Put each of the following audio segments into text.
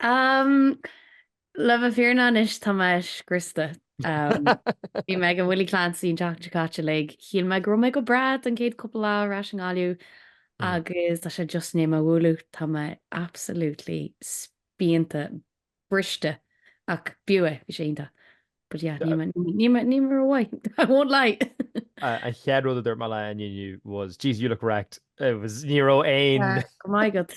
Umm, le bheith fírinneach anois tá mé scriosta. Umm, bhí mé ag an Willie Clancy an tseachtain seo caite uilig, shíl mé go raibh mé go breá don chéad cúpla lá ar ais i nGaillimh Mm. agus tá sé just i ndiaidh mé a bhualadh, tá mé absolutely spíonta, briste ach b'fhiú é, bhí sé iontach. But yeah, níl mé, níl mé, níl mé rómhaith, I won't lie! An chéad rud a dúirt mé leat inniu was, Jeez, you look wrecked. It was, ní raibh aon, Yeah, go raibh maith agat.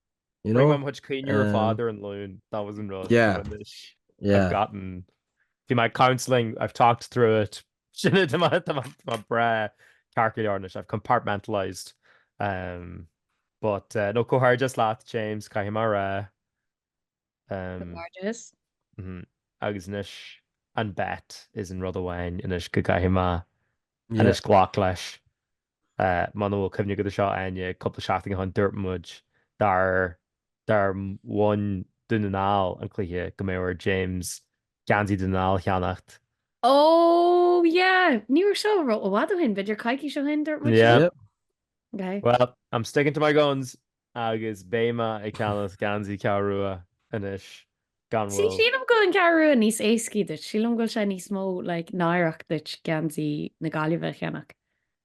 You know? Rinne mé mo chuid caoineadh ar fad ar an Luan, that was an rud. Yeah. But anois, Yeah. I've gotten, do my counselling, I've talked through it. Sin é, tá mé- tá mé- tá mé breá ceart go leor anois, I've compartmentalised. Um, but, eh, no, comhghairdeas leat, James, caithfidh mé a rá. Um, Comhghairdeas. mhm. Agus anois, an bet is an rud amháin anois go gcaithfidh mé Yeah. anois glac leis. Muna bhfuil cuimhne agat ar seo, Áine, cúpla seachtain ó shin dúirt muid dár dár bhain Dún na nGall an cluiche go mbeadh ar James geansaí Dún na nGall a cheannacht. Ó yeah, ní raibh seo ró i bhfad ó shin, b'fhéidir coicís ó shin dúirt muid sin? Yep. Bhuel, I'm sticking to my guns! Agus beidh mé ag ceannacht geansaí Ceathrú Rua anois, gean- Bhuel. Sí, sílim go bhfuil an Ceathrú Rua níos éascaí duit, sílim go bhfuil sé níos mó like náireach duit geansaí na Gaillimhe a cheannach.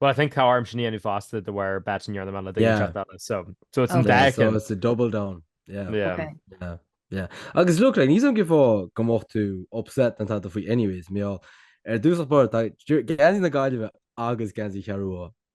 Well I think tá orm sin a dhéanamh fosta de bharr bet an Iarnam Eile ag an teacht eile so so it's an dá Yeah, so ceann. it's a double down, yeah. Yeah. Ok. Yeah, yeah. Agus look, like, níl a fhios agam cén fáth go mbeadh tú upset ná tada faoi anyways, mar gheall, i dtosach báire, tá geansaí na Gaillimhe agus geansaí Cheathrú Rua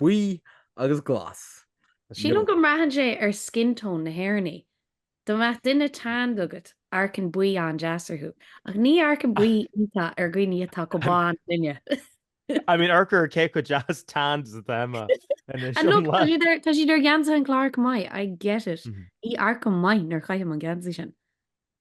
buí agus glas. Sílim go mbraitheann sé ar skin tone na hÉireannaigh. Dá mbeadh duine tanned agat, amharcann buí an-deas orthu, ach ní amharcann buí iontach ar dhaoine atá chomh bán linne. I mean, amharc ar cé chomh deas tanned is atá Emma anois. And look, tá siad ar gheansaithe an Chláir chomh maith, I get it. Ní amharcaim maith nuair chaithim an geansaí sin.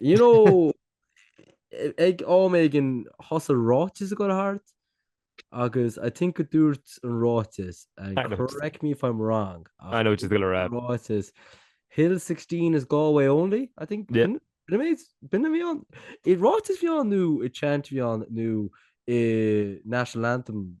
You know, ag am éigin thosaigh ráiteas ag dul thart agus I think go dúirt an ráiteas, and correct me if I'm wrong, I know what you're gonna rá. Ráiteas, Hill 16 is Galway only, I think. Yeah. B'in a bhí ann? An ráiteas a bhí ann nó an chant a bhí ann nó an National Anthem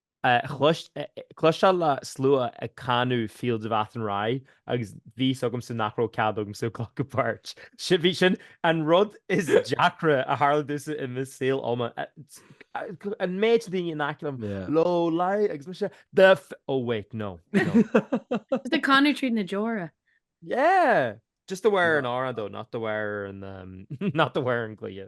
Cloisteáil le slua ag canadh Fields of Athenry agus bhí a fhios agamsa nach raibh cead agamsa a ghlacadh páirt. Bhí sin an rud is deacra a tharla domhsa i mo shaol, um. An méid daoine in aice liom, Low lie agus mise, The f-, oh wait, no, no. Just ag canadh tríd na deora. Yeah! Just de bharr an amhrán though, not de bharr an, not de bharr an chluiche.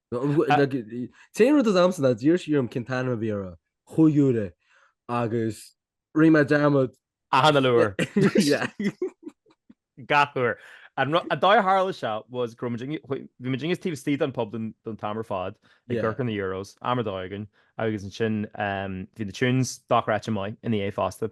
T-aon rud s'agamsa ná d'iarr sí orm cén t-ainm a bhí ar Chúige Uladh, agus rinne mé dearmad. Achan uile uair. Gach uair. An dóigh ar tharla seo was go raibh muid, bhí muid just taobh istigh den pub don t-am ar fad, ag amharc ar na euros, am ar dóigh againn, agus ansin bhí na tunes dochreidte maith ina dhiaidh fosta.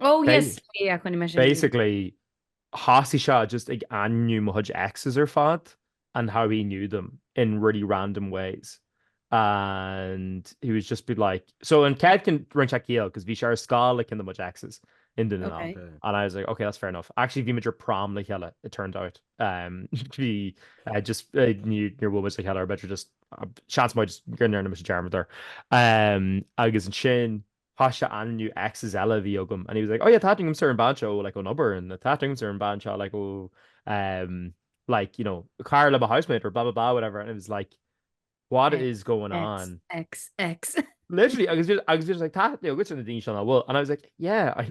Oh yes, yeah, rinne mé sin. Basically, thosaigh sé just ag ainmniú mo chuid exes ar fad and how he knew them in really random ways and he was just be like, so an chéad cheann rinne sé ciall cos bhí sé ar scoil le ceann de mo chuid exes in duine ná. Okay. And I was like, okay, that's fair enough. Actually, bhí muid ar prom le chéile, it turned out. Um, bhí uh, just, uh, ní níor bhuail muid le chéile or b'fhéidir just, uh, seans maith go ndearna muid dearmad air. Um, agus ansin, Thosaigh sé ag ainmniú exes eile a bhí agam and he was like oh yeah tá aithne agamsa ar an bean seo like ón obair and tá aithne agamsa ar an bean seo like ó umm like you know cara le mo housemate or blah blah blah whatever and it was like what is going on xxx literally agus agus agus like tá aithne agatsa ar na daoine seo nach bhfuil and I was like yeah I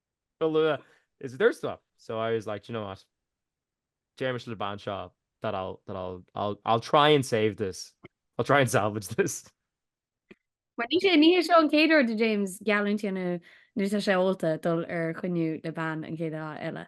go luath is a dúirt tú. So I was like, do you know what, déarfaidh mise le bean seo that I'll, that I'll, I'll, I'll try and save this, I'll try and salvage this. Mar ní sé, ní hé seo an chéad uair do James geallúint a dhéanamh nuair atá sé ólta dul ar choinne le bean an chéad lá eile.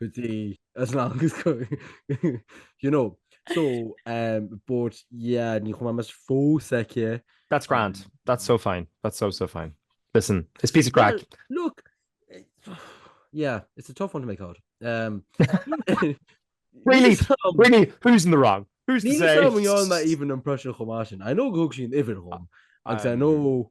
go dtí as lágus you know so um but yeah ní chum mas fó seice That's grand. Um, That's so fine. That's so so fine. Listen, it's piece of crack. Well, look yeah it's a tough one to make out um really really who's in the wrong who's to say even impression chomá I know go sin ifir hom agus I know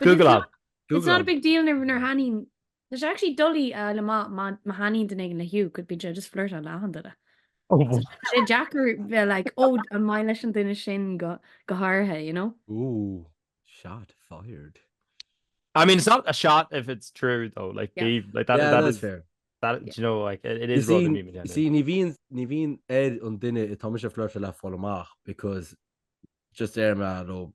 Google it. It's not a big deal nar thaitníonn Tá sé actually doiligh fáil amach má thaitníonn duine éigin le Hugh, cos bíonn sé just ag flirtin le achan duine. sé deacair bheith like ó an maith leis an duine sin go háirithe, you know? Ooh, shot fired. I mean, it's not a shot if it's true though, like, yeah. Dave, like that, yeah, that is fair. That, yeah. you know, like, it, it is rather me. See, ní bhíonn ní bhíonn ar an duine atá mise ag flirteáil le fáil amach because just deirim leo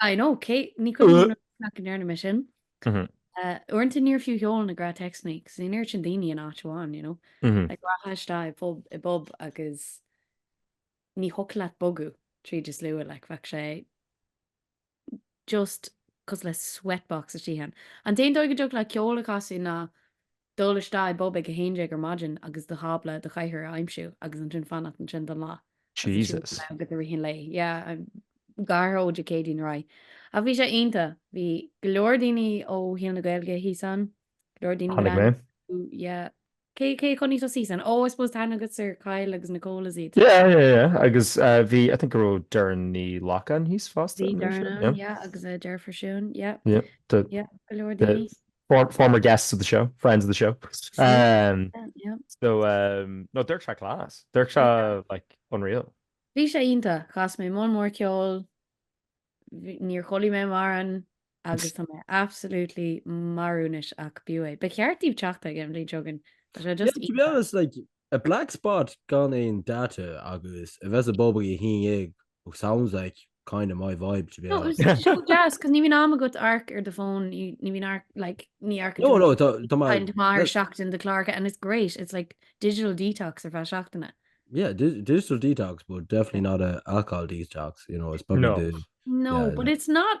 I know, cé, ní cuimhin liom cad chuige nach ndearna mé sin. Uaireanta níor fiú sheol na gnáth-théacsannaí, cos bhí an oiread sin daoine in áit amháin, you know. Like rachfá isteach i pub, i bpub agus ní thiocfadh leat bogadh tríd an slua, like bheadh sé just cosúil le sweat box istigh ann. An t-aon dóigh a dtiocfadh leat ceol a chasadh ná Dul isteach i bpub ag 11 ar maidin agus do thábla do chathaoir a aimsiú agus ansin fanacht ansin don lá agus ansin Jesus. fanacht go dtí rith an lae. Yeah, go háirithe ó Dé Céadaoin ar aghaidh. Ach bhí sé iontach. Bhí go leor daoine ó shaol na Gaeilge thíos ann, go leor daoine Tháinig mé. Ooh, yeah. Cé cé a chonaic tusa thíos ann? Ó, I suppose tá aithne agat ar Kyle agus Nicole is iad. Yeah, yeah, yeah. Agus uh, bhí, I think go raibh Doireann Ní Ghlacáin thíos fosta. Bhí I'm not sure. Doireann Yeah. ann, yeah, agus a deirfiúr Siún, yeah. Yeah. The, Yeah, go leor the, daoine. For- former guests of the show, friends of the show. Um, Yeah. so, um, no, Dirk Shaw class. Dirk Shaw, like, unreal. Bhí sé iontach, chas mé moll mór ceoil, bhí- níor chodlaigh mé mórán agus tá mé absolutely marbh anois ach b'fhiú é. Ba cheart daoibh teacht aige an bhliain seo chugainn. Tá sé Yeah, just to be iontach. honest, like, A black spot gan aon data agus a bheith sa bpub ag a haon déag oh sounds like kind of my vibe to be honest. No, bhí sé deas cos ní bhíonn am agat amharc ar do phone, ní bhíonn amharc like ní amharcann tú No, no, tá mé kind of mar seachtain do chlár and it's great, it's like digital detox ar feadh seachtaine. Yeah, digital detox but definitely not a alcohol detox, you know, it's probably No. the No, yeah, but it's not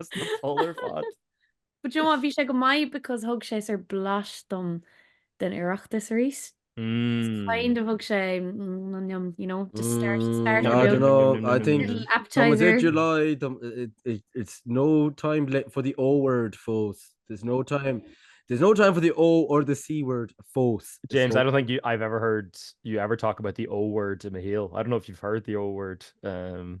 As na polar fad. But you know what, bhí sé go maith because thug sé ar blas dom den Oireachtas arís. Mm. Kind of thug sé mm, no, yum, you know, just start, start No, I don't know. I think Little Tá appetizer. it July, dom- it, it, it's no time le- for the O word, fós. There's no time. There's no time for the O or the C word, fós. It's James, no- I don't think you, I've ever heard you ever talk about the O word in a heel. I don't know if you've heard the O word. Um,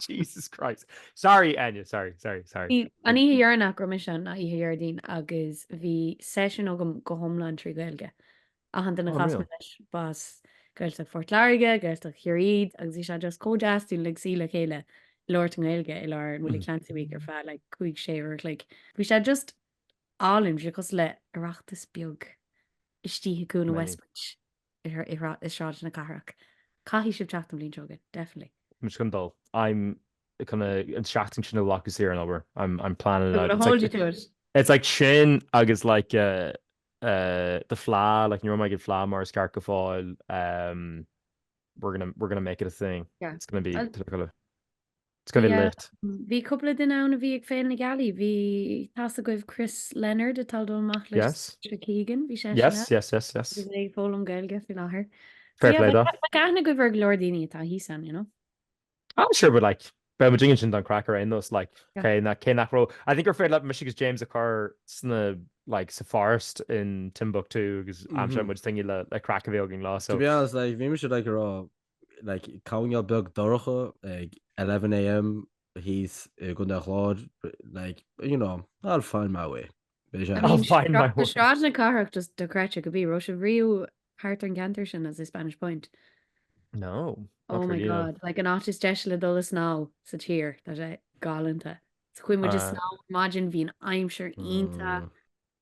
Jesus Christ. Sorry, Áine, sorry, sorry, sorry. Bhí an oíche dheireanach go raibh mise ann ná oíche Dhéardaoin agus bhí seisiún agam go hiomlán trí Ghaeilge. Achan duine a chas mé leis ba as Gaeltacht Phort Láirge, Gaeltacht Chiarraí agus bhí sé just chomh deas dúinn uilig suí le chéile ag labhairt i nGaeilge i lár an Willie Clancy Week ar feadh like cúig, sé uair a chloig. Bhí sé just álainn, bhí sé cosúil le Oireachtas beag istigh i gcúl an Westbridge. i Sráid na Cathrach. Caithfidh sibh teacht an bhliain seo chugainn. Definitely. Táim chun dul. I'm kinda an seachtain sin a ghlacadh saor ón obair. I'm I'm planning it out. I'm gonna hold you to it. It's like sin agus like the fleadh, like ní raibh mé ag an fleadh mar is ceart go fóill. We're gonna we're gonna make it a thing. Yeah. It's gonna be. It's going to be Yeah. lit. Bhí cúpla duine ann a bhí ag Féile na Gealaí. Bhí tá a fhios agaibh Chris Leonard atá ag dul amach le Yes. Saoirse Keegan. Bhí seisean Yes, yes, yes, yes. Is é ag foghlaim Gaeilge faoi láthair. Fair yeah, play like, dó. like aithne agaibh ar go leor daoine atá thíos ann, you know. I'm sure, but like, beidh muidne ansin don craic ar aon nós, like, Yeah. cé na- cé nach raibh- I think gur féidir leat mise agus James a chur sna, like, sa forest in Timbuktu agus aimseoidh Mhm. muid daoine le, le craic a bheith againn leo, so. To be honest, like, bhí mise like ag rá, like, coirnéal beag dorcha ag 11am thíos i gContae an Chláir, like, you know, I'll find my way. Beidh sé. I mean, I'll find my way. Sráid na Cathrach just dochreidte go bí, raibh sibh riamh thart ar an gceantar sin is i Spanish Point. No. Oh my god, like an áit is deise le dul ag snámh sa tír, tá sé galanta. So chuaigh muid ag snámh ar maidin bhí an aimsir iontach.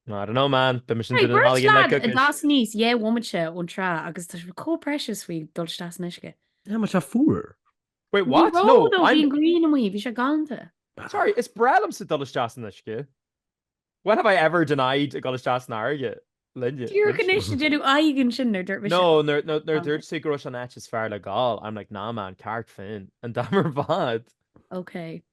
I don't know man, beimis an duine nalgain le cookies. Tá as níos your woman seo ón trá agus tá sí chomh precious faoi dul isteach san uisce. Yeah, mar tá sé fuar. Wait what? No, no, no, bhí an grian amuigh, bhí sé galanta. Sorry, is breá liomsa dul isteach san uisce. When have I ever denied dul isteach san fharraige linne? Díreach anois ag déanamh aghaidh ansin nuair dúirt mise. No, nuair dúirt sí go raibh sé an áit is fearr le gabháil, I'm like nah man, Carraig Fhinn, an t-am ar fad. Ok.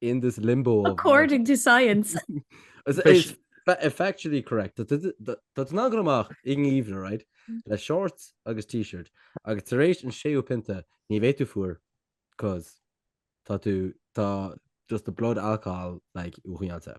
in this limbo according to science effectively correct dul amach in even right mm. le shorts agus t-shirt agus tar éis an séú pionta ní bheidh tú fuair cos tá tú tá just the blood alcohol like uaireanta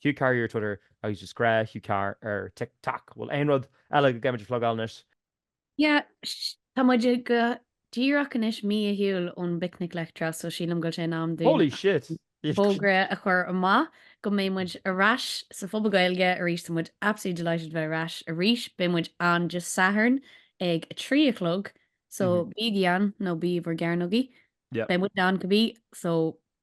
Hugh Carr ar Twitter agus just grá Hugh Carr ar Tik Tok. Bhfuil aon rud eile go gcaithfimid a phlugáil anois? Yeah sh tá muid go díreach anois mí ar shiúl ón bPicnic Leictreach so sílim go bhfuil sé in am dúinn Holy shit! an fógra a chur amach go mbeidh muid ar ais sa phuball Gaeilge arís tá muid absolutely delighted bheith ar ais arís beidh muid ann Dé Sathairn ag a trí a chlog so bígí ann nó bígí in bhur gcearnógaí Yeah. beidh muid ann go bí so